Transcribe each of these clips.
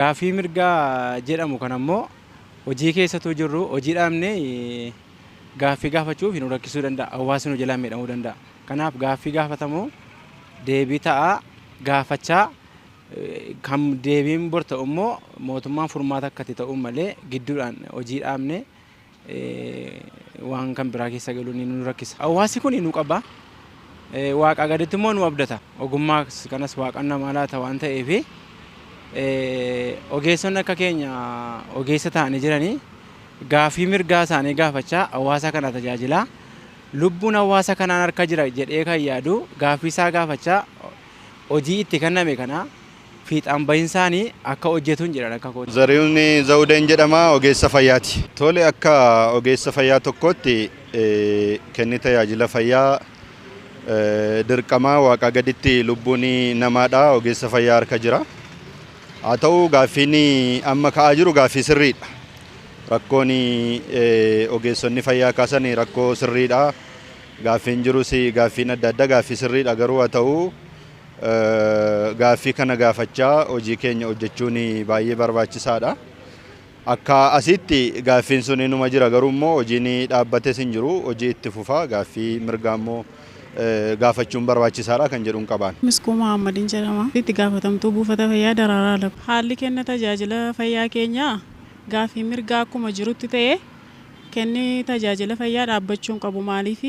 Gaaffii mirgaa jedhamu kana immoo hojii keessa utuu jirruu hojii dhaabnee gaaffii gaafachuuf nu rakkisuu danda'a. Hawaasni nu jalaa miidhamuu danda'a. Kanaaf gaaffii gaafatamu deebii ta'aa gaafachaa kan deebiin bor ta'u immoo mootummaan furmaata akka itti ta'uuf malee gidduudhaan hojii dhaabnee waan kan biraa keessa galuun nu rakkisa. Hawaasi kun nu qaba. Waaqaa gaditti immoo nu abdata. Ogummaa kanas waaqan namaa laata waan ta'eef ogeessonni akka keenya ogeessa ta'anii jiranii gaafii mirgaa isaanii gaafachaa hawaasa kana tajaajilaa lubbuun hawaasa kanaan harka jira jedhee kan yaadu gaafii isaa gaafachaa hojii itti kenname kana fiixaan bahinsaan akka hojjetuun jedhan akka kooti. Zarihun Zawudeen jedhama. Ogeessa fayyaati. Tole akka ogeessa fayyaa tokkootti kenni tajaajila fayyaa dirqamaa waaqaa gaditti lubbuun namaadha ogeessa fayyaa harka jira. Haa ta'u gaaffiin amma ka'aa jiru gaaffii sirriidha. Rakkoon ogeessonni fayyaa kaasan rakkoo sirriidha. Gaaffiin jirus gaaffiin adda addaa gaaffii sirriidha garuu haa ta'u Gaaffii kana gaafachaa hojii keenya hojjechuun baay'ee barbaachisaadha. Akka asiitti gaaffiin sun inuma jira garuu immoo hojiin dhaabbates hin jiru hojii itti fufa gaaffii mirgaa immoo gaafachuun barbaachisaadha kan jedhun qaba. Miskuu Mohaammadin jedhama. Itti gaafatamtuu buufata fayyaa Daraaraa Alab. Haalli kenna tajaajila fayyaa keenyaa gaaffii mirgaa akkuma jirutti ta'ee kenni tajaajila fayyaa dhaabbachuu hin qabu maaliif?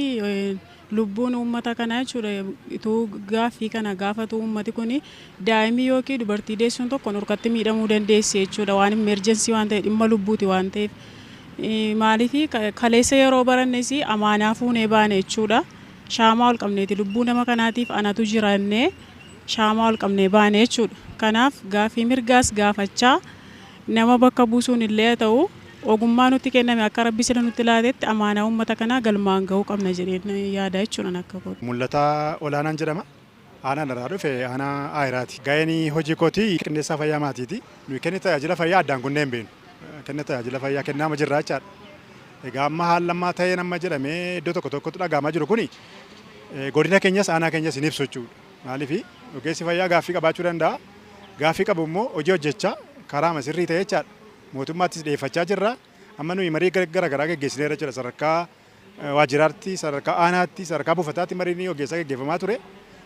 Lubbuun uummata kanaa jechuudha utuu gaaffii kana gaafatuu uummati kun daa'imni yookiin dubartii deessuun tokko nurkatti miidhamuu dandeessi jechuudha waan immeerjensii waan ta'e dhimma lubbuuti waan ta'eef maaliif kaleessa yeroo barannes amaanaa fuunee baane jechuudha shaamaa ol qabneeti lubbuu nama kanaatiif anatu jira jennee shaamaa ol qabnee baane jechuudha kanaaf gaaffii mirgaas gaafachaa Nama bakka buusuun illee haa ta'u, ogummaa nutti kenname akka Rabbi sila nutti laatetti amaanaa uummata kanaa galmaan gahuu qabna jedheen yaada jechuudha ani akka kootti. Mul'ataa Olaanaan jedhama. Aanaan irraa dhufe aanaa Aayiraati. Gaheen hojii kootii qindeessaa fayyaa maatiiti. Nuyi kenna tajaajila fayyaa addaan kunnee hin beeknu. Kenna tajaajila fayyaa kennaama jirra jechaadha. Egaa amma haalli ammaa ta'een amma jedhamee iddoo tokko tokkotti dhaga'amaa jiru kuni godina keenyas aanaa keenyas hin ibsu jechuudha. Maaliif? Ogeessi fayyaa gaaffii qabaachuu danda'a. Gaaffii qabu immoo hojii hojjechaa karaama sirrii ta'e jechaadha. Mootummaattis dhiyeeffachaa jirra. Amma nuyi marii gara garaa geggeessineerra jechuudha. Sadarkaa waajjiraatti, sadarkaa aanaatti, sadarkaa buufataatti mariin ogeessaa geggeeffamaa ture.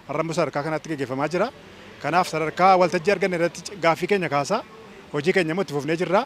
Har'a immoo sadarkaa kanaatti geggeeffamaa jira. Kanaaf sadarkaa waltajjii arganne irratti gaaffii keenya kaasaa hojii keenya immoo itti fufnee jirra.